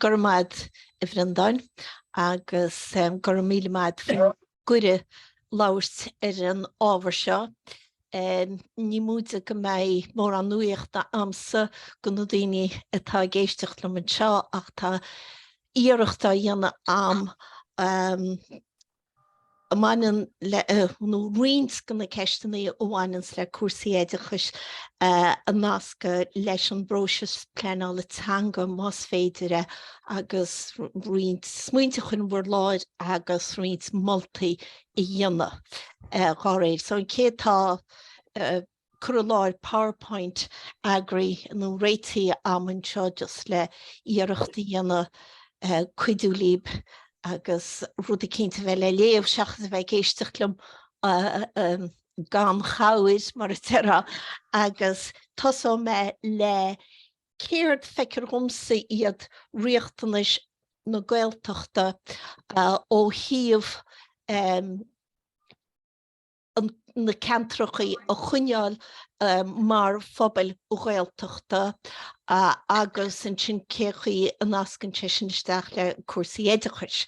Go raibh maith ad a Bhreandáin agus go raibh míle maith ad as an gcuireadh labhairt ar an ábhar seo. Ní móide go mbeidh mórán nuaíocht agamsa go na daoine atá ag éisteacht liom anseo ach tá iarracht á dhéanamh agam a bhaineann le, nó roinnt de na ceisteanna a bhaineanns le cúrsaí oideachais a nascadh leis an bpróiseas pleanála teanga más féidir é agus roinnt smaointe a chur in bhur láthair agus roinnt moltaí a dhéanamh dá réir. So an chéad, tá. cur i láthair powerpoint, eagraithe nó réitithe am anseo just le iarracht a dhéanamh cuidiú líb agus rud eicínt a bheith le léamh seachas a bheith ag éisteacht liom gan chabhair mar a déarfá agus tosóidh mé le céard feictear dhomsa iad riachtanais na Gaeltachta ó thaobh na ceantracha a choinneáil mar phobail Ghaeltachta agus ansin cén chaoi a nascann sé sin isteach le cúrsaí oideachais.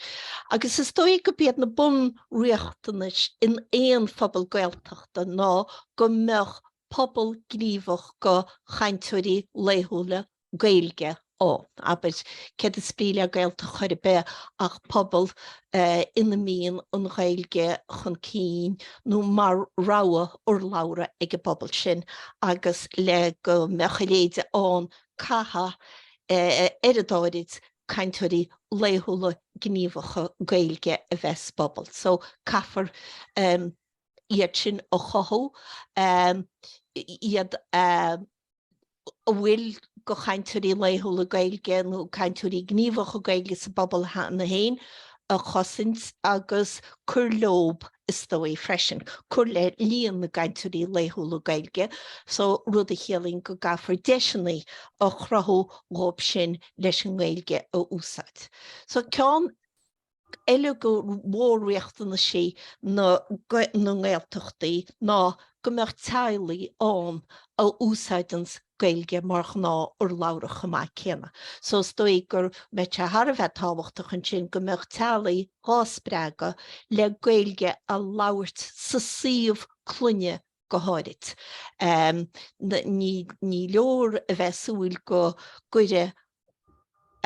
Agus is dóigh gurb iad na bunriachtanais in aon phobal Gaeltachta ná go mbeadh pobal gníomhach de chainteoirí laethúla Gaeilge nó, abair, céard is brí le Gaeltacht chor ar bith ach pobal ina mbíonn an Ghaeilge chun cinn nó mar rogha urlabhra ag an bpobal sin agus le go mbeadh a leithéid ann caithfidh oiread áirid cainteoirí laethúla gníomhacha Gaeilge a bheith sa bpobal so caithfear iad sin a chothú, iad a. A bhfuil go chainteoirí laethúla Gaeilge nó cainteoirí gníomhacha Gaeilge sa bpobal cheana féin a chosaint agus cur leo is dóigh freisin. Cur le líon na gcainteoirí laethúla Gaeilge so, rud a chiallaíonn go gcaithfear deiseanna a chruthú dhóibh sin leis an nGaeilge a úsáid. So ceann. eile de mhór-riachtanaisí na nGaeltachtaí ná go mbeadh teaghlaigh ann a úsáideanns Gaeilge mar ghnáth-urlabhra chomh maith céanna. So is dóigh go mbeadh sé thar a bheith tábhachtach ansin go mbeadh teaghlaigh dhá spreagadh le Gaeilge a labhairt sa suíomh clainne go háirid. Ní leor a bheith ag súil go gcuirfidh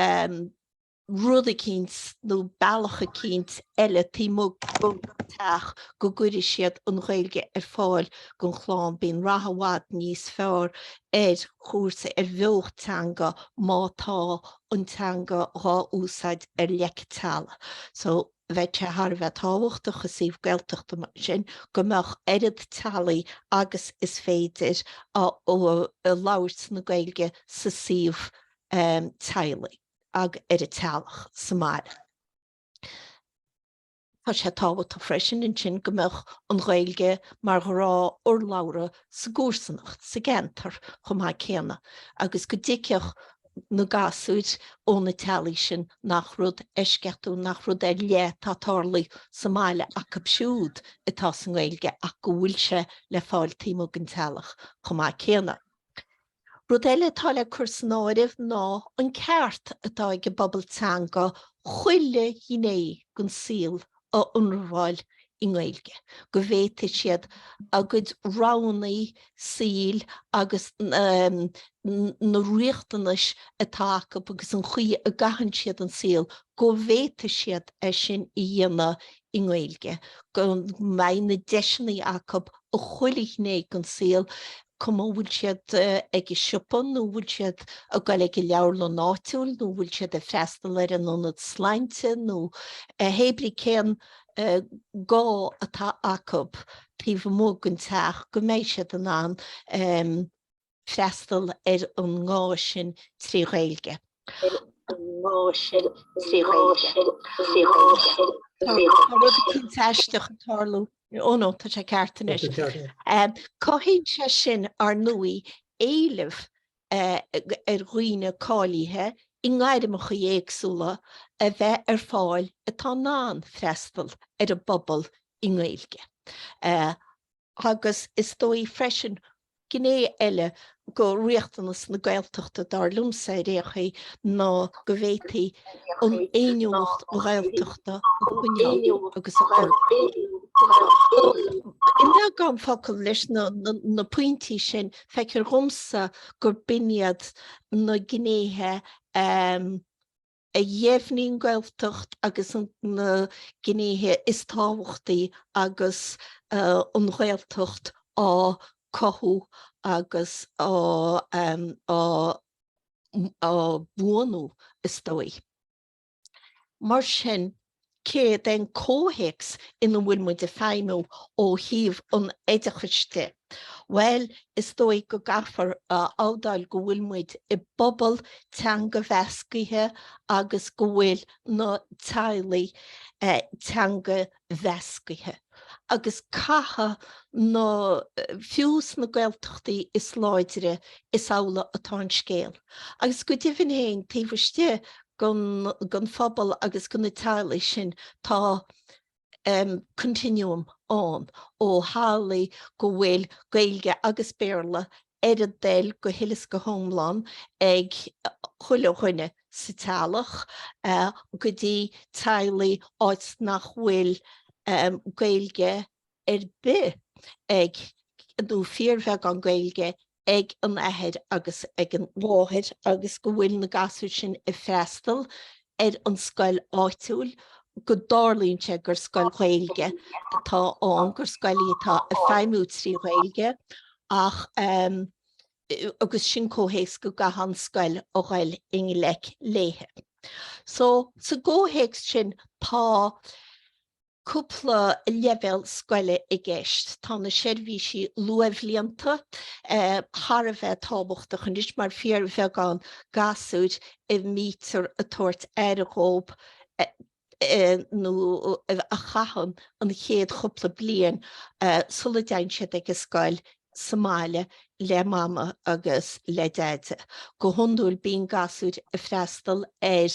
an. rud eicínt nó bealach eicínt eile taobh amuigh den teach go gcuirfidh siad an Ghaeilge ar fáil don chlann. Bíonn rath i bhfad níos fearr ar chúrsa, ar bheocht teanga má tá an teanga dhá úsáid ar leic teallaigh. So, bheadh sé thar a bheith tábhachtach i suíomh Gaeltachta mar sin go mbeadh oiread teaghlaigh agus is féidir ag labhairt na Gaeilge sa suíomh teaghlaigh. ag an teaghlach sa mbaile. Tá sé tábhachtach freisin ansin go mbeadh an Ghaeilge mar ghnáthurlabhra sa gcomharsanacht, sa gceantar chomh maith céanna agus go dtuigfeadh na gasúir ó na teaghlaigh sin nach rud eisceachtúil, nach rud ar leith atá ag tarlú sa mbaile acu siúd atá sa nGaeilge ach go bhfuil sé le fáil taobh amuigh den teaghlach chomh maith céanna. Rud eile atá le cur san áireamh ná an ceart atá ag an bpobal teanga chuile ghné den saol a ionramháil i nGaeilge, go bhféadfaidh siad a gcuid roghanna saoil agus na riachtanais atá acu agus an chaoi a gcaitheann siad an saol, go bhféadfaidh siad é sin a dhéanamh i nGaeilge, go mbeidh na deiseanna acu i chuile ghné den saol, cuma an bhfuil siad ag an siopa nó an bhfuil siad ag goil ag an leabharlann áitiúil nó an bhfuil siad ag freastal ar an ionad sláinte nó a hébrí cén gá atá acu taobh amuigh den teach, go mbeidh siad in ann. freastal ar an ngá sin trí Ghaeilge. Tá rud eicínt aisteach ag tarlú. Oh no, tá sé ceart anois. Cothaíonn sé sin, ar ndóigh, éileamh ar dhaoine cáilithe i ngairmeacha éagsúla a bheith ar fáil atá in ann freastal ar an bpobal i nGaeilge. agus is dóigh freisin, gné eile de riachtanas na Gaeltachta, dar liomsa ar aon chaoi, ná go bhféadfaí an fhéiniúlacht Ghaeltachta a choinneáil agus a fhorbairt. I mbeagán focal, leis na pointí sin, feictear dhomsa gurb in iad na gnéithe a. a dheimhníonn Gaeltacht agus na gnéithe is tábhachtaí agus an Ghaeltacht á cothú agus á buanú is dóigh. Mar sin. Céard é an comhthéacs ina bhfuil muid ag feidhmiú ó thaobh an oideachais de? Bhuel, is dóigh go gcaithfear a admháil go bhfuil muid i bpobal teanga-mheasctha agus go bhfuil na teaghlaigh teanga-mheasctha. agus caitheadh na, fiú sna Gaeltachtaí is láidre, is amhlaidh atá an scéal. Agus go deimhin féin, taobh istigh den, den phobal agus de na teaghlaigh sin, tá em continuum ann ó theaghlaigh go bhfuil Gaeilge agus Béarla ar a dtoil go huile is go hiomlán ag chuile dhuine sa teaghlach go dtí teaghlaigh áit nach bhfuil Gaeilge ar bith ag nó fíorbheagán Gaeilge ag an athair agus ag an mháthair agus go bhfuil na gasúir sin ag freastal ar an scoil áitiúil go dtarlaíonn sé gur scoil Ghaeilge atá ann, gur scoil í atá ag feidhmiú trí Ghaeilge ach agus sin comhthéacs go gcaitheann scoil a ghoil i ngleic léithe. So sa gcomhthéacs sin tá cúpla leibhéal scoile i gceist. Tá na seirbhísí luathbhlianta thar a bheith tábhachtach anois mar fíorbheagán gasúir a mbítear ag tabhairt aire dhóibh nó a chaitheann an chéad chúpla bliain sula dtéann siad ag an scoil sa mbaile le Mama agus le Deaide. Go hiondúil bíonn gasúir ag freastal ar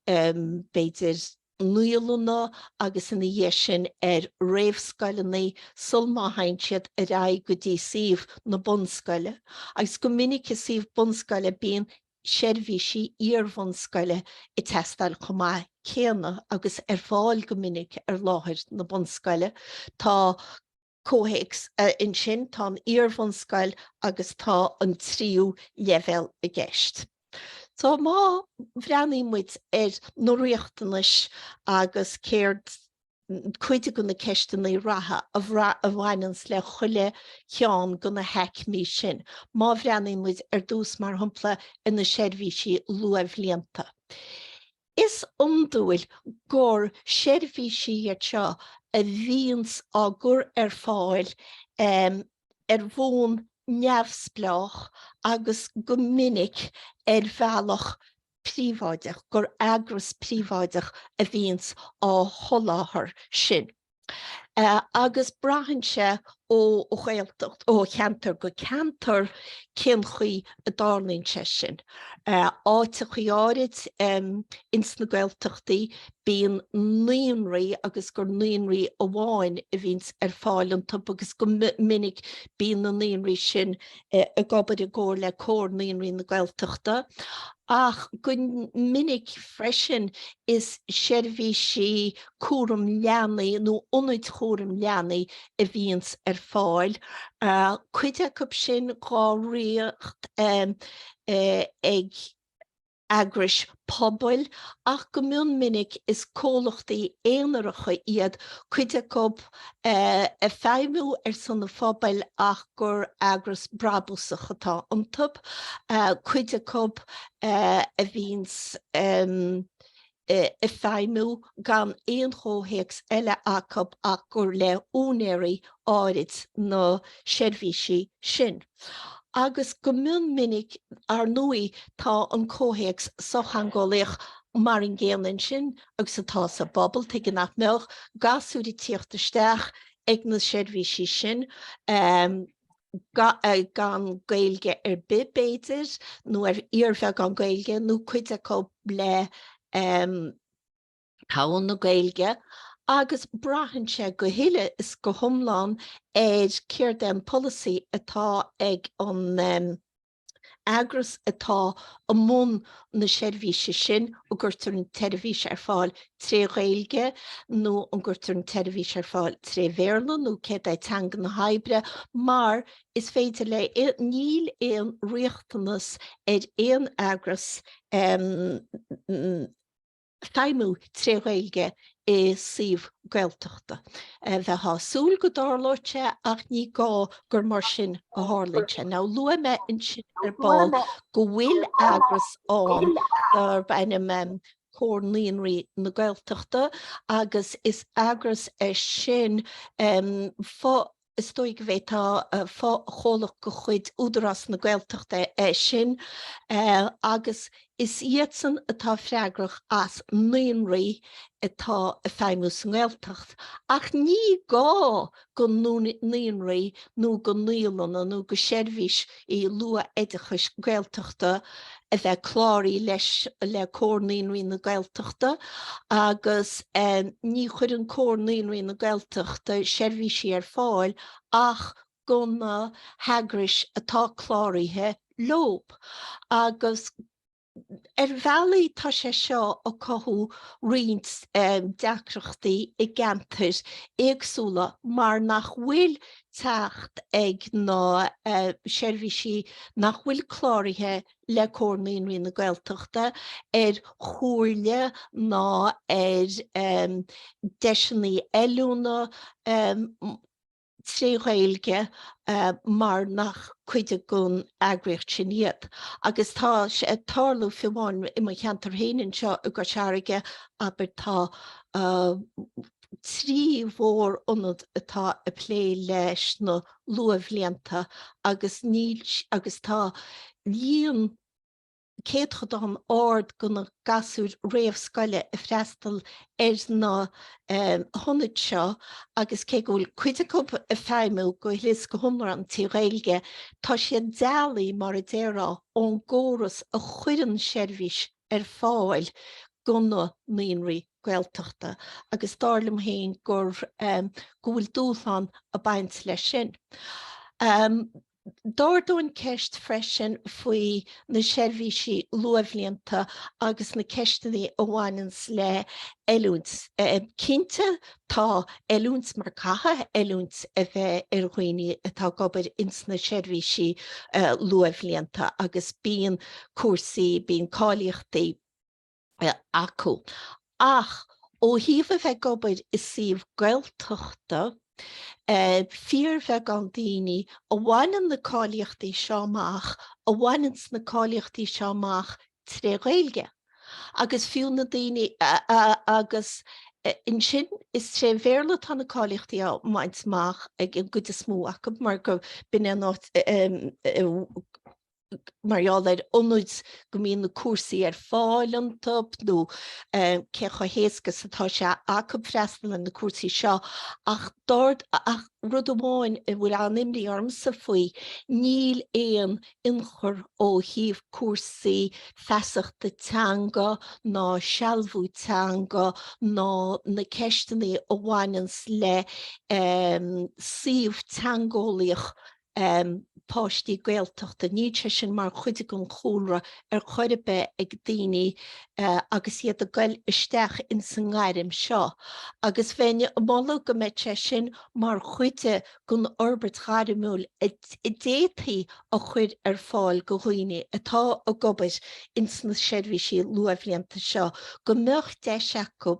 b'fhéidir, naíolanna agus ina dhiaidh sin ar réamhscoileanna sulmá théann siad ar aghaidh go dtí suíomh na bunscoile agus go minic i suíomh bunscoile bíonn seirbhísí iarbhunscoile ag teastáil chomh maith céanna agus ar fáil go minic ar láthair na bunscoile. Tá. Comhthéacs ansin, tá an iarbhunscoil agus tá an tríú leibhéal i gceist. So má bhreathnaíonn muid ar na riachtanais agus céard, cuid de na ceisteanna reatha a bhaineanns le chuile cheann de na haicmí sin. Má bhreathnaíonn muid ar dtús mar shampla ar na seirbhísí luathbhlianta. Is iondúil gur seirbhísí iad seo a bhíonns á gcur ar fáil ar bhonn neamhspleách agus go minic ar bhealach príobháideach, gur eagras príobháideach a bhíonns á sholáthar sin. agus braitheann sé ó Ghaeltacht, ó cheantar go ceantar cén chaoi a dtarlaíonn sé sin. Áiteachaí áirid ins na Gaeltachtaí bíonn naíonraí agus gur naíonraí amháin a bhíonns ar fáil iontub agus go minic bíonn na naíonraí sin ag obair i gcomhar le Comhar Naíonraí na Gaeltachta ach go minic freisin is seirbhísí cúram leanaí nó ionad cúram leanaí a bhíonns ar fáil, cuid acu sin dhá ritheacht ag eagrais pobail ach go mion minic is comhlachtaí aonaracha iad cuid acu ag feidhmiú ar son an phobail ach gur eagras brabúsach atá iontu, cuid acu a bhíonns. ag feidhmiú gan aon chomhthéacs eile acu ach gur le húinéirí áirid na seirbhísí sin. Agus go mion minic, ar ndóigh, tá an comhthéacs sochtheangeolaíoch mar an gcéanna ansin agus atá sa bpobal, tuige nach mbeadh gasúir ag tíocht isteach ag na seirbhísí sin? gan Gaeilge ar bith b'fhéidir nó ar fhíorbheagán Gaeilge nó cuid acu le togha na Gaeilge agus braitheann sé go huile is go hiomlán ar céard é an polasaí atá ag an eagras atá i mbun na seirbhíse sin, an gcuirtear an tseirbhís ar fáil tré Ghaeilge nó an gcuirtear an tseirbhís ar fáil tré Bhéarla nó céard é teanga na hoibre mar is féidir le, níl aon riachtanas ar aon eagras feidhmiú tré Ghaeilge i suíomh Gaeltachta. Bheifeá ag súil go dtarlódh sé ach ní gá gur mar sin a tharlaíonn sé. Now luaigh mé ansin ar ball go bhfuil eagras ann darb ainm Comhar Naíonraí na Gaeltachta agus is eagras é sin fo-. Is dóigh go bhféadfá fochomhlacht de chuid Údarás na Gaeltachta é sin agus is iadsan atá freagrach as naíonraí atá ag feidhmiú sa nGaeltacht. Ach ní gá go naíonraí nó go naíolanna nó go seirbhís i luathoideachais Gaeltachta a bheith cláraithe leis le Comhar Naíonraí na Gaeltachta agus ní chuireann Comhar Naíonraí na Gaeltachta seirbhísí ar fáil ach go na heagrais atá cláraithe leo agus Ar bhealaí tá sé seo ag cothú roinnt deacrachtaí i gceantair éagsúla mar nach bhfuil teacht ag na seirbhísí nach bhfuil cláraithe le Comhar Naíonraí na Gaeltachta ar chomhairle ná ar dheiseanna oiliúna, trí Ghaeilge mar nach cuid den eagraíocht sin iad agus tá sé ag tarlú fiú amháin i mo cheantar féin anseo i gCois Fharraige, abair, tá trí mhór-ionad atá ag plé leis na luathbhlianta agus níl, agus tá líon. céatadán ard de na gasúir réamhscoile ag freastal ar na hionaid seo agus cé go bhfuil cuid acu ag feidhmiú go huile is go hiomlán trí Ghaeilge, tá siad dealaithe, mar a déarfá, ón gcóras a chuireann seirbhís ar fáil do na naíonraí Gaeltachta agus dar liom féin go bhfuil dúshlán ag baint leis sin. D'ardóinn an cheist freisin faoi na seirbhísí luathbhlianta agus na ceisteanna a bhaineanns le oiliúint. Cinnte, tá oiliúint mar caithfidh oiliúint a bheith ar dhaoine atá ag obair ins na seirbhísí luathbhlianta agus bíonn cúrsaí, bíonn cáilíochtaí, acu. Ach ó thaobh a bheith ag obair i suíomh Gaeltachta, fíorbheagán daoine a bhaineann na cáilíochtaí seo amach a bhaineann na cáilíochtaí seo amach tré Ghaeilge. Agus fiú na daoine agus ansin is tré Bhéarla atá na cáilíochtaí á mbaint amach ag an gcuid is mó acu mar gur b'in é an áit a mar gheall ar na hionaid go mbíonn na cúrsaí ar fáil iontu nó cé chomh héasca is atá sé acu freastal ar na cúrsaí seo ach rud amháin a bhfuil an-imní ormsa faoi, níl aon ionchur ó thaobh cúrsaí feasachta teanga ná sealbhú teanga ná na ceisteanna a bhaineanns le suíomh teangeolaíoch. um páistí Gaeltachta. Níl sé sin mar chuid den chúlra ar chor ar bith ag daoine agus iad ag goil isteach ins an ngairm seo agus bheinn ag moladh go mbeadh sé sin mar chuid den fhorbairt ghairmiúil a d'fhéadfaí a chur ar fáil go dhaoine atá ag obair ins na seirbhísí luathbhlianta seo go mbeadh deis acu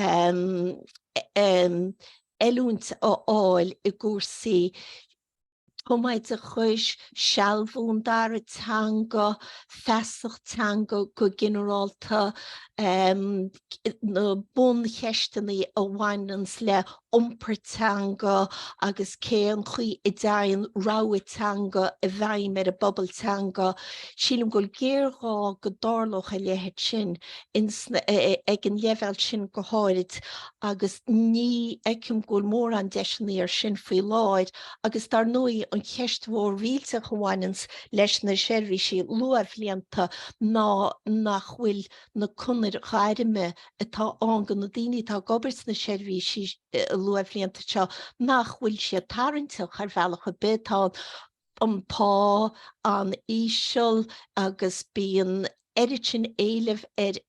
um oiliúint a fháil i gcúrsaí tumoideachais, sealbhú an dara teanga, feasacht teanga go ginearálta, na buncheisteanna a bhaineanns le iompar teanga agus cén chaoi a dteigheann rogha teanga i bhfeidhm ar an bpobal teanga. Sílim go bhfuil géarghá go dtarlódh a leithéid sin ins na, ag an leibhéal sin go háirid. agus ní fheicim go bhfuil mórán deiseanna air sin faoi láthair agus dar ndóigh an cheist mhór rialta a bhaineanns leis na seirbhísí luathbhlianta ná nach bhfuil na conair ghairme atá ann do na daoine atá ag obair sna seirbhísí luathbhlianta seo nach bhfuil siad tarraingteach ar bhealach ar bith, tá an pá an-íseal agus bíonn oiread sin éilimh ar.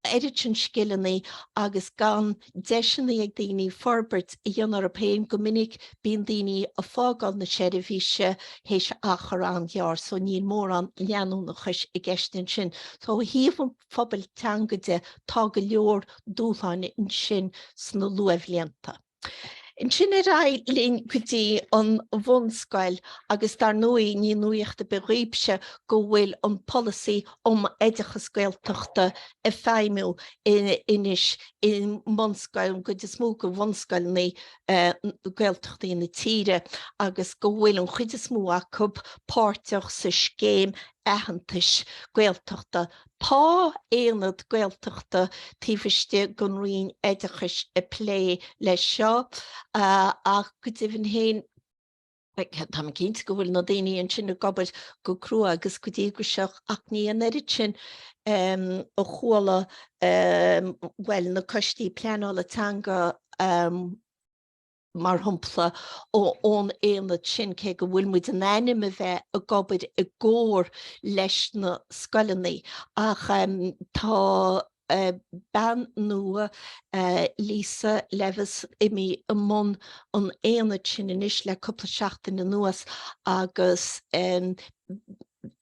oiread sin scileanna agus gan deiseanna ag daoine forbairt a dhéanamh orthu féin, go minic bíonn daoine ag fágáil na seirbhíse théis achar an-ghearr so níl mórán leanúnachais i gceist ansin. So ó thaobh an phobail teanga de tá go leor dúshláin ansin sna luathbhlianta. Ansin ar aghaidh linn go dtí an bhunscoil agus dar ndóigh ní nuaíocht ar bith dhaoibhse go bhfuil an Polasaí um Oideachas Gaeltachta ag feidhmiú anois i mbunscoil, an gcuid is mó de bhunscoileanna Gaeltachtaí na tíre agus go bhfuil an chuid is mó acu páirteach sa scéim aitheantais Gaeltachta. Tá aonad Gaeltachta taobh istigh den Roinn Oideachais ag plé leis seo ach go deimhin féin tá mé cinnte go bhfuil na daoine ansin ag obair go crua agus go díograiseach ach ní an oiread sin ó, chuala bhuel na coistí pleanála teanga mar shampla, ón aonad sin, cé go bhfuil muid in ainm a bheith ag obair i gcomhar leis na scoileanna. Ach tá bean nua, Lisa Levis, imithe i mbun an aonaid sin anois le cúpla seachtain anuas agus.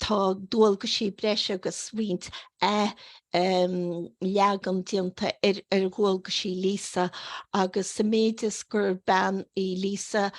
Tá dualgaisí breise agus roinnt athleagan déanta ar dhualgaisí Lisa agus sa méid is gur bean í Lisa,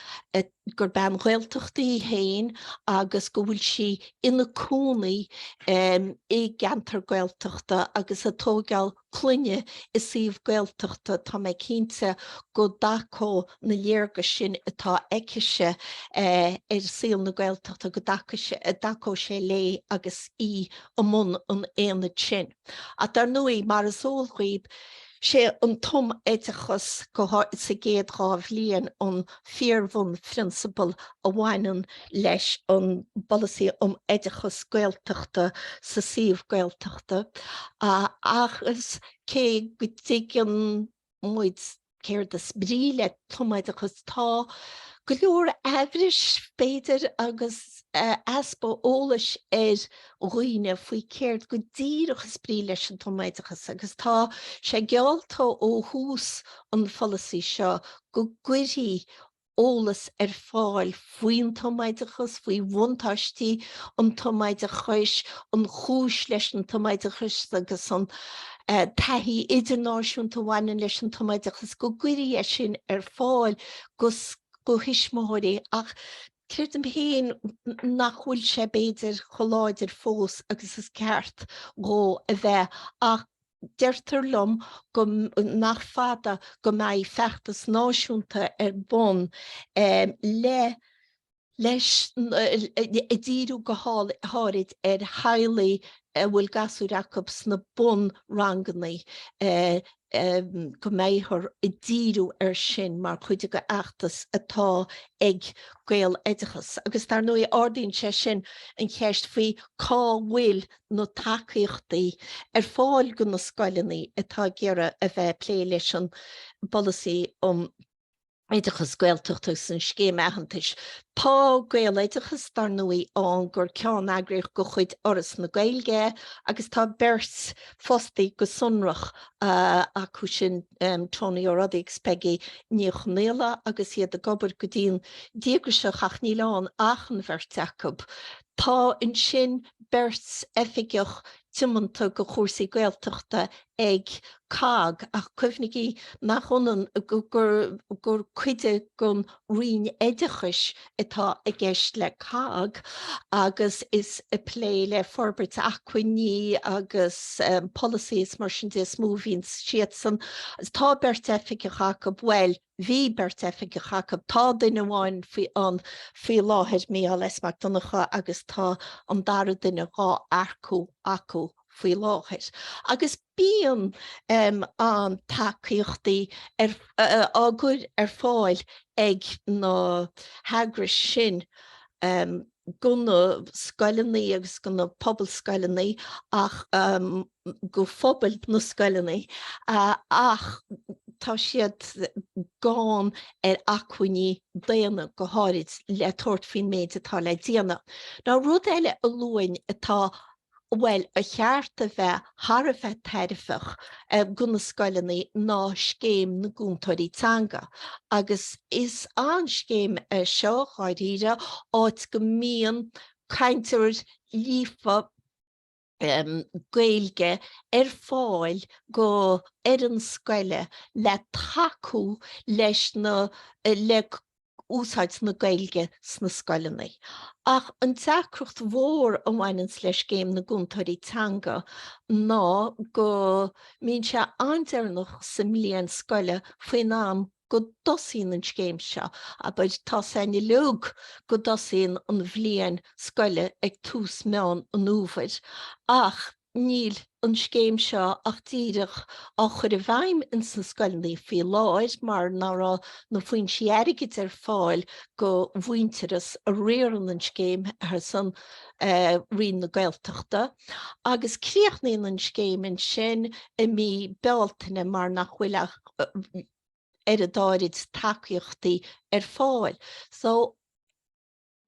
gur bean Ghaeltachta í féin agus go bhfuil sí ina cónaí i gceantar Gaeltachta agus ag tógáil clainne i suíomh Gaeltachta, tá mé cinnte go dtacódh na léargais sin atá aicise ar saol na Gaeltachta, go dtacódh sé léi agus í i mbun an aonaid sin. Ach dar ndóigh, mar is eol dhaoibh, sé an tumoideachas, go háirid sa gcéad dhá bhliain, an. fíorbhunphrionsabal a bhaineann leis an bPolasaí um Oideachas Gaeltachta sa suíomh Gaeltachta agus cé go dtuigeann muid céard is brí le tumoideachas tá go leor amhrais, b'fhéidir, agus easpa eolais ar dhaoine faoi céard go díreach is brí leis an tumoideachas agus tá sé geallta ó thús an pholasaí seo go gcuirfí eolas ar fáil faoin tumoideachas, faoi bhuntáistí an tumoideachais, an chúis leis an tumoideachas agus an taithí idirnáisiúnta a bhaineann leis an tumoideachas, go gcuirfí é sin ar fáil go thuismitheoirí ach creidim féin nach bhfuil sé b'fhéidir chomh láidir fós agus is ceart dhó a bheith ach deirtear liom go nach fada go mbeidh feachtas náisiúnta ar bun le leis ag díriú go háirid ar theaghlaigh a bhfuil gasúir acu sna bunranganna go mbeifear ag díriú ar sin mar chuid de fheachtas atá ag Gaeloideachas agus dar ndóigh ardaíonn sé sin an cheist faoi cá bhfuil na tacaíochtaí ar fáil do na scoileanna atá ag iarraidh a bheith ag plé leis an bpolasaí um oideachas Gaeltachta agus an scéim aitheantais. Tá Gaeloideachas, dar ndóigh, ann gur ceanneagraíocht de chuid Fhoras na Gaeilge é agus tá beirt fostaí go sonrach acu sin, Tonaí Ó Roduibh agus Peigí Ní Chonghaile, agus iad ag obair go dian díograiseach ach níl ann ach an bheirt acu. Tá ansin beirt oifigeach tiomanta go chúrsaí Gaeltachta ag COGG ach cuimhnigí nach ionann gur cuid den Roinn Oideachais atá i gceist le COGG agus is ag plé le forbairt acmhainní agus polasaí is mar sin de is mó a bhíonn siadsan. Tá beirt oifigeach acu, bhuel, Bhí beirt oifigeach acu. Tá duine amháin ann faoi láthair, Micheál S. Mac Donncha, agus tá an dara duine, dhá earcú acu faoi láthair. Agus bíonn an tacaíochtaí á gcur ar fáil ag na heagrais sin go na scoileanna agus go na pobalscoileanna ach go phobal na scoileannaí ach tá siad gann ar acmhainní daonna go háirid le tabhairt faoin méid atá le déanamh. Ná rud eile a luafainn atá, bhuel, ar cheart a bheith thar a bheith tairbheach do na scoileannaí ná scéim na gcúntóirí teanga agus is an scéim seo, dháiríre, áit go mbíonn cainteoir líofa, Gaeilge ar fáil go fhoireann scoile le tacú leis na le úsáid na Gaeilge sna scoileannaí. Ach an deacracht mhór a bhaineanns le Scéim na gCúntóirí Teanga ná go mbíonn sé an-deireanach sa mbliain scoile faoin am go dtosaíonn an scéim seo, abair, tá a fhios againn uilig go dtosaíonn an bhliain scoile ag tús Meán an Fhómhair ach níl an scéim seo ach díreach á chur i bhfeidhm ins na scoileannaí faoi láthair mar nach raibh na foinsí airgid ar fáil go Mhuintearas a riarann an scéim ar son Roinn na Gaeltachta agus críochnaíonn an scéim ansin i mí Bealtaine mar nach bhfuil ach tréimhse áirid tacaíochtaí ar fáil. So,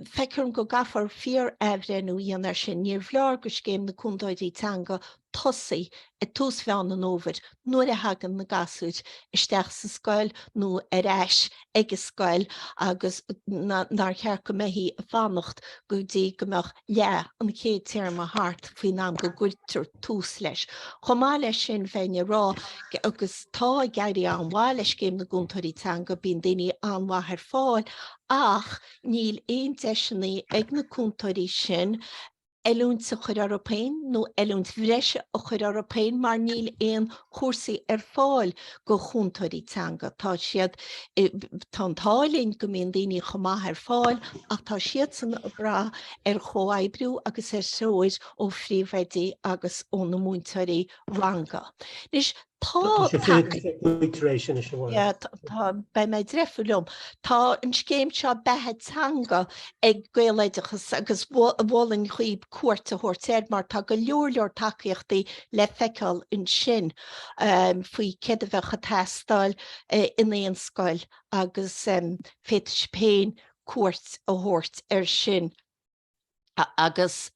feictear dom go gcaithfear fíor-athbhreithniú a dhéanamh ar sin. Níorbh fholáir go scéim na gcúntóirí teanga tosú ag tús Mheán an Fhómhair nuair a thagann na gasúir isteach sa scoil nó ar ais ag an scoil agus nár cheart go mbeadh sí ag fanacht go dtí go mbeadh leath an chéad téarma thart faoin am go gcuirtear tús leis. Chomh maith leis sin bheinn ag rá, agus tá ag éirí an-mhaith le Scéim na gCúntóirí Teanga, bíonn daoine an-mhaith ar fáil ach níl aon deiseannaí ag na cúntóirí sin, oiliúint a chur orthu féin nó oiliúint bhreise a chur orthu féin mar níl aon chúrsaí ar fáil go chúntóirí teanga. Tá siad, tá an t-ádh linn go mbíonn daoine chomh maith ar fáil ach tá siadsan ag brath ar chomhoibriú agus ar threoir ó phríomhoidí agus ó na múinteoirí ranga. Anois, Tá, beidh mé ag deifriú liom. Tá an scéim seo Beatha Teanga ag Gaeloideachas agus mho- mholfainn dhaoib cuairt a thabhairt air mar tá go leor leor tacaíochtaí le feiceáil ansin em, faoi céard a bheadh ag teastáil eh, in aon scoil agus em, féadfaidh sibh féin cuairt a thabhairt air sin. agus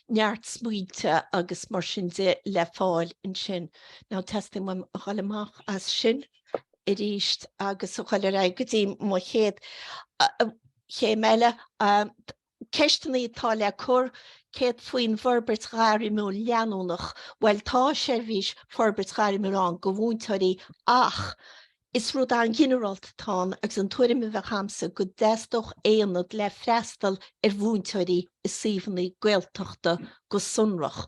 neart smaointe agus mar sin de le fáil ansin. Now teastaíonn uaim a dhul amach as sin arís agus a dhul ar aghaidh go dtí mo chéad chéim eile. Ceisteanna atá le cur, céard faoin bhforbairt ghairmiúil leanúnach? Bhuel tá seirbhís forbairt ghairmiúil ann do mhúinteoirí ach Is rud an-ghinearálta atá ann agus an tuairim a bheadh agamsa go dteastódh aonad le freastal ar mhúinteoirí i suíomhanna Gaeltachta go sonrach.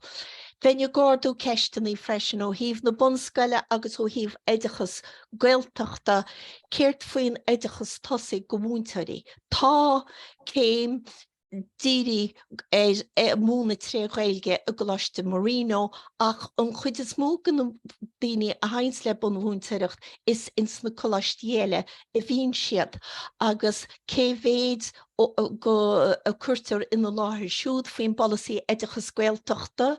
Bheinn ag ardú ceisteanna freisin ó thaobh na bunscoile agus ó thaobh oideachas Gaeltachta, céard faoin oideachas tosaigh do mhúinteoirí? Tá céim dírithe ar mhúineadh tré Ghaeilge i gColáiste Marino ach an chuid is mó de na daoine a thaganns le bunmhúinteoireacht is ins na coláistí eile a bhíonn siad agus cé mhéid dhó a cuirtear ina láthair siúd faoin bpolasaí oideachas Gaeltachta?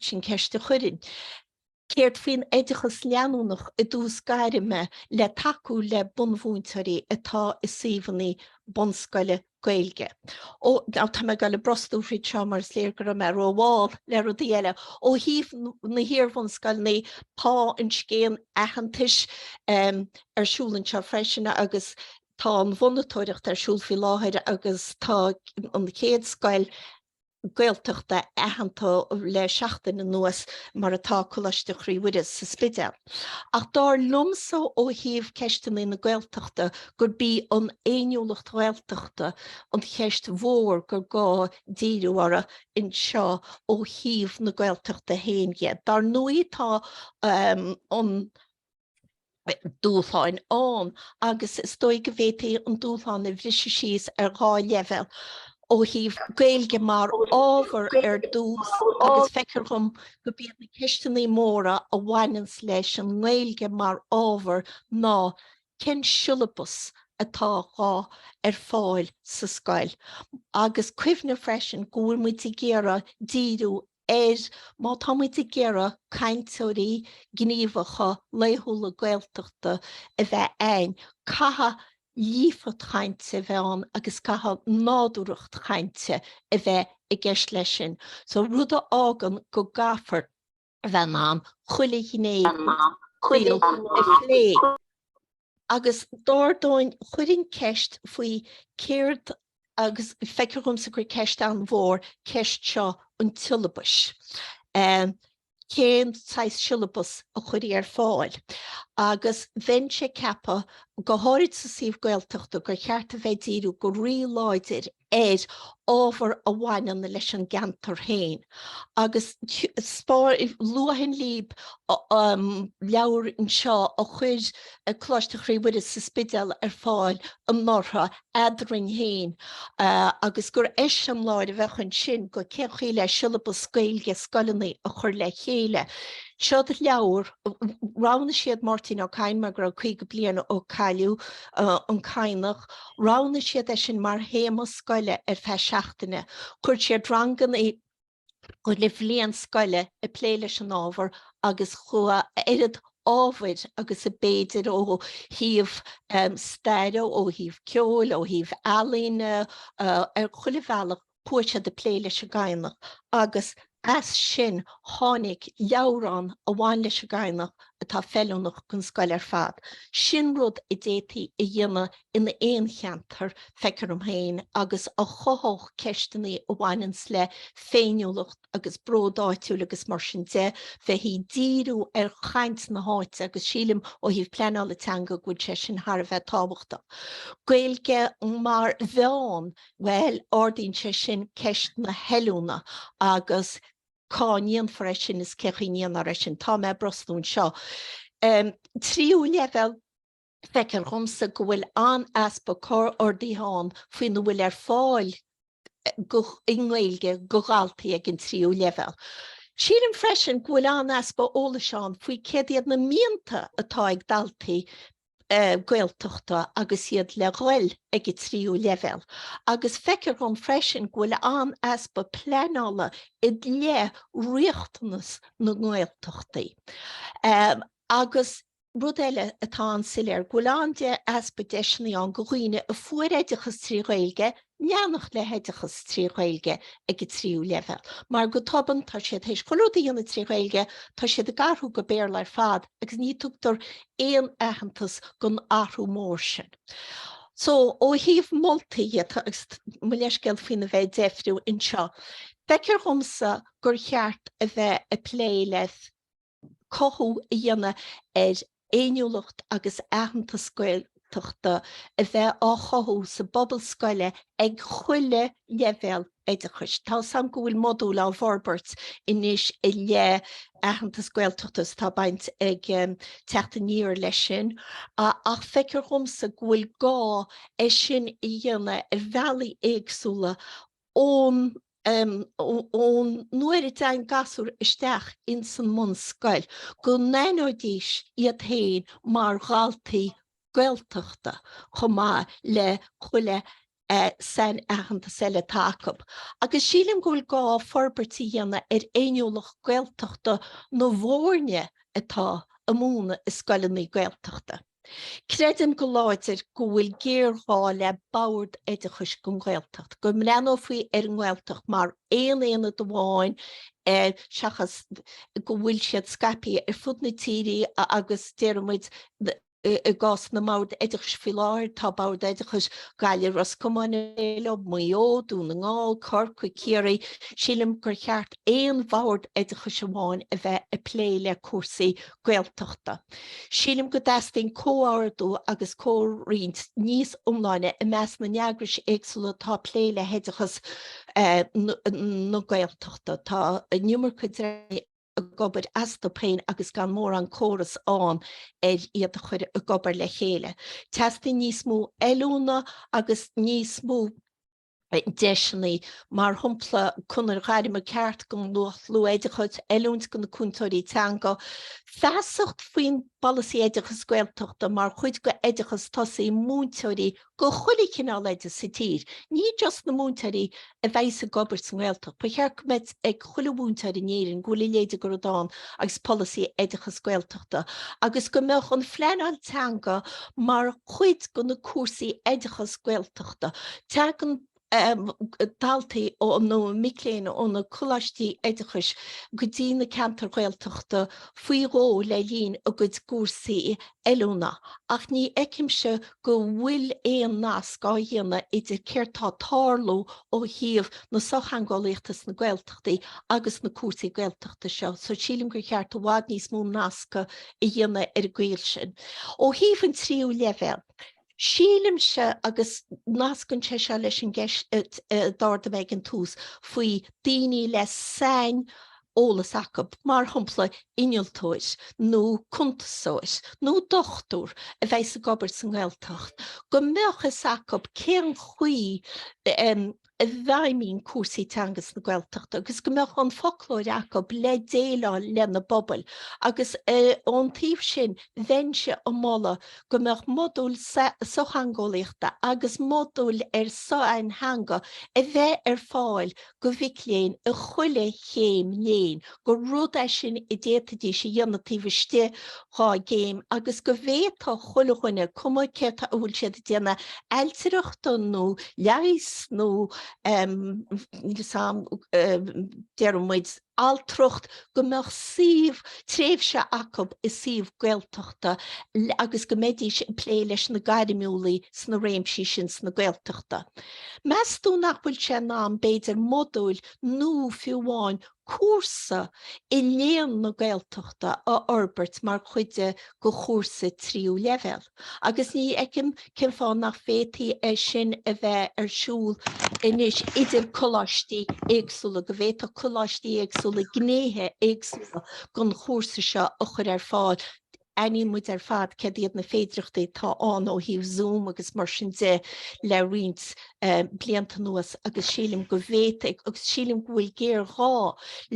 Sin ceist a chuirfinn. Céard faoin oideachas leanúnach i dtús gairme le tacú le bunmhúinteoirí atá i suíomhanna bunscoile Gaeilge? Ó, tá mé ag dul ag brostú thríd seo mar is léir go raibh mé rómhall le rudaí eile. Ó thaobh na hiarbhunscoileannaí, tá an scéim aitheantais ar siúl anseo freisin agus tá an mhonatóireacht ar siúl faoi láthair agus tá an chéad scoil, Gaeltachta aitheanta le seachtain anuas mar atá Coláiste Chroí Mhuire sa Spidéal. Ach dár liomsa ó thaobh ceisteanna na Gaeltachta gurb í an fhéiniúlacht Ghaeltachta an cheist mhór gur gá díriú uirthi anseo ó thaobh na Gaeltachta féin dhe. Dár ndóigh tá an. dúshláin ann agus is dóigh go bhféadfaí an dúshlán a bhriseadh síos ar dhá leibhéal, ó thaobh Gaeilge mar ábhar ar dtús agus feictear dhom gob iad na ceisteannaí móra a bhaineanns leis an nGaeilge mar ábhar ná cén siollabas atá dhá chur ar fáil sa scoil agus cuimhneamh freisin go bhfuil muid ag iarraidh díriú air má tá muid ag iarraidh cainteoirí gníomhacha laethúla Gaeltachta a bheith a'ainn, caithfidh líofacht chainte a bheith ann agus caithfidh nádúrthacht chainte a bheith i gceist leis sin, so rud a fhágann go gcaithfear a bheith in ann chuile ghné den saol a phlé. Agus dar ndóigh chuirfinn ceist faoi céard agus feictear dhomsa gur ceist an-mhór ceist seo an tsiollabais. Cén saghas siollabas a chuirfidh ar fáil? Agus bheinnse ag ceapadh, go háirid sa suíomh Gaeltachta, gur cheart a bheith ag díriú go rí-láidir ar ábhar a bhaineann leis an gceantar féin agus luadh an leabhar seo a chuir Coláiste Chroí Mhuire sa Spidéal ar fáil anuraidh eadrainn féin agus gur eiseamláir a bheadh ann ansin go cén chaoi le siollabas Gaeilge scoileanna a chur le chéile. Seo leabhar, roghnaigh siad Máirtín Ó Cadhain mar go raibh 50 bliain ó cailleadh an Cadhnach, Roghnaigh siad é sin mar théama scoile ar feadh seachtaine. Chuir siad ranganna chuile bhliain scoile ag plé leis an ábhar agus fuair a oiread ábhair agus a b'fhéidir ó thaobh staire, ó thaobh ceoil, ó thaobh ealaíne, ar chuile bhealach. Chuaigh siad ag plé leis an gCadhnach agus as sin tháinig leabhrán a bhain leis an gCadhnach atá feiliúnach gon scoil ar fad. Sin rud a d'fhéadfaí a dhéanamh in aon cheantar, feictear dom féin, agus a chothódh ceisteanna a bhaineanns le féiniúlacht agus bród áitiúil agus mar sin de, bheith ag díriú ar chaint na háite agus sílim ó thaobh pleanála teanga go bhfuil sé sin thar a bheith tábhachtach. Gaeilge mar mheán Bhuel, ardaíonn sé sin ceist na hoiliúna agus cá ndéanfar é sin is cé chaoi a ndéanfar é sin. Tá mé ag brostú anseo. Tríú leibhéal? Feictear dhomsa go bhfuil an-easpa comhordaithe ann faoina bhfuil ar fáil i nGaeilge go dhaltaí ag an tríú leibhéal. Sílim freisin go bhfuil an-easpa eolais ann faoi céard iad na mianta atá ag daltaí Gaeltachta agus iad le dhul ag an tríú leibhéal agus feictear dhom freisin go bhfuil an-easpa pleanála i leith riachtanas na nGaeltachtaí agus rud eile atá an-soiléir go bhfuil an-easpa deiseanna ann go dhaoine a fuair oideachas trí Ghaeilge a leanacht le hoideachas trí Ghaeilge ag an tríú leibhéal mar go tobann tá siad théis chuile rud a dhéanamh trí Ghaeilge, tá siad ag athrú go Béarla ar fad agus ní tugtar aon aitheantas gon athrú mór sin. So ó thaobh moltaí dhe agus mo leithscéal faoin a bheith ag deifriú anseo, feictear dhomsa gur cheart a bheith ag plé le, cothú a dhéanamh ar fhéiniúlacht agus aitheantas Gaeltachta a bheith á chothú sa bpobal scoile ag chuile leibhéal oideachais. Tá a fhios agam go bhfuil modúil á bhforbairt anois i leith aitheantas Gaeltachta is tá baint ag Teacht Aniar leis sin ach feictear dhomsa go bhfuil gá é sin a dhéanamh ar bhealaí éagsúla ón ón nuair a dtéann gasúr isteach ins an mbunscoil go n-aithneoidís iad féin mar dhaltaí Gaeltachta chomh maith le chuile sainaitheantas eile atá acu. Agus sílim go bhfuil gá forbairt a dhéanamh ar fhéiniúlacht Gaeltachta na bhfoirne atá ag múineadh i scoileanna Gaeltachta. Creidim go láidir go bhfuil géarghá le Bord Oideachais don Ghaeltacht, go mbreathnófaí ar an nGaeltacht mar aon aonad amháin seachas go bhfuil siad scaipthe ar fud na tíre agus déarfaidh muid i gcás na mBord Oideachais faoi láthair tá Bord Oideachais Gaillimh, Ros Comáin eile, Maigh Eo, Dún na nGall, Corcaigh, Ciarraí, sílim gur cheart aon Bhord Oideachais amháin a bheith ag plé le cúrsaí Gaeltachta. Sílim go dteastaíonn comhordú agus comhroinnt níos iomláine i measc na n-eagras éagsúla atá ag plé le hoideachas na Gaeltachta. Tá an iomarca dreamanna ag obair astu féin agus gan mórán córas ann ar iad a chur ag obair le chéile. Teastaíonn níos mó oiliúna agus níos mó. deiseanna, mar shampla, conair ghairme ceart don lucht luath-oideachais, oiliúint do na cúntóirí teanga, feasacht faoin bpolasaí oideachais Gaeltachta mar chuid d'oideachas tosaigh múinteoirí do chuile chineál oide sa tír, ní just na múinteoirí a bheas ag obair sa nGaeltacht. Ba cheart go mbeadh a fhios ag chuile mhúinteoir in Éirinn go bhfuil a leithéid de rud ann agus polasaí oideachais Gaeltachta agus go mbeadh an phleanáil teanga mar chuid de na cúrsaí oideachais Gaeltachta. Teagann daltaí ó ó mic léinn ó na coláistí oideachais go dtí na ceantair Ghaeltachta faoi dhó le linn a gcuid cúrsaí oiliúna ach ní fheicimse go bhfuil aon nasc á dhéanamh idir céard tá ag tarlú ó thaobh na sochtheangeolaíochta sna Gaeltachtaí agus na cúrsaí Gaeltachta seo so sílim gur cheart i bhfad níos mó nascadh a dhéanamh ar an gcaoi sin. Ó thaobh an tríú leibhéal, Sílimse, agus nascann sé seo leis an gceist d'ardaigh mé ag an tús faoi daoine le saineolas acub, mar shompla innealtóir nó cuntasóir nó dochtúir a bheas ag obair sa nGaeltacht, go mbeadh a fhios acub cén chaoi, a bhfeidhmíonn cúrsaí teanga sna Gaeltachtaí agus go mbeadh an foclóir acub le déileáil lena bpobail agus ón taobh sin bheinnse ag moladh go mbeadh modúil sochtheangeolaíochta agus modúil ar shaintheanga a bheith ar fáil go mhic léinn i chuile chéim léinn. gur rud é sin a d'fhéadfaidís a dhéanamh taobh istigh dhá gcéim agus go bhféadfadh chuile dhuine, cuma céard atá a bhfuil siad ag déanamh, ailtireachta nó leighis nó níl 'fhios a'm, déarfaidh muid, altracht, go mbeadh suíomh, tréimhse acu i suíomh Gaeltachta agus go mbeidís ag plé leis na gairmiúlaigh sna réimsí sin sna Gaeltachtaí. Meastú nach bhfuil sé in am b'fhéidir modúil nó fiú amháin cúrsa i Léann na Gaeltachta a fhorbairt mar chuid go chúrsa tríú leibhéal agus ní fheicim cén fáth nach bhféadfaí é sin a bheith ar siúl anois idir coláistí éagsúla, go bhféadfadh coláistí éagsúla gnéithe éagsúla gon chúrsa seo a chur ar fáil. Aithníonn muid ar fad céard iad na féidireachtaí atá ann ó thaobh Zoom agus mar sin de le roinnt blianta anuas agus sílim go bhféadfaí agus sílim go bhfuil géarghá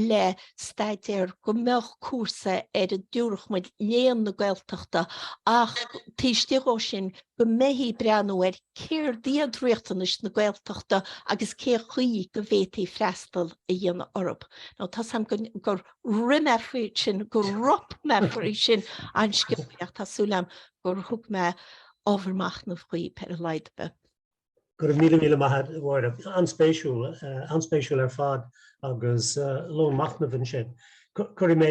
le staidéar go mbeadh cúrsa ar a dtabharfadh muid Léann na Gaeltachta ach taobh istigh dhó sin go mbeifí breathnú ar céard iad riachtanais na Gaeltachta agus cé chaoi go bhféadfaí freastal a dhéanamh orthu. Tá 's a'm gur. rith mé fríd sin, go rop mé fríd sin an scéalaíocht. Tá súil agam gur thug mé ábhar machnaimh dhaoibh ar a laghad ar bith. Go raibh míle míle maith agat, a Mháire. An-spéisiúil, an-spéisiúil ar fad agus lón machnaimh ansin. Cuirfidh mé.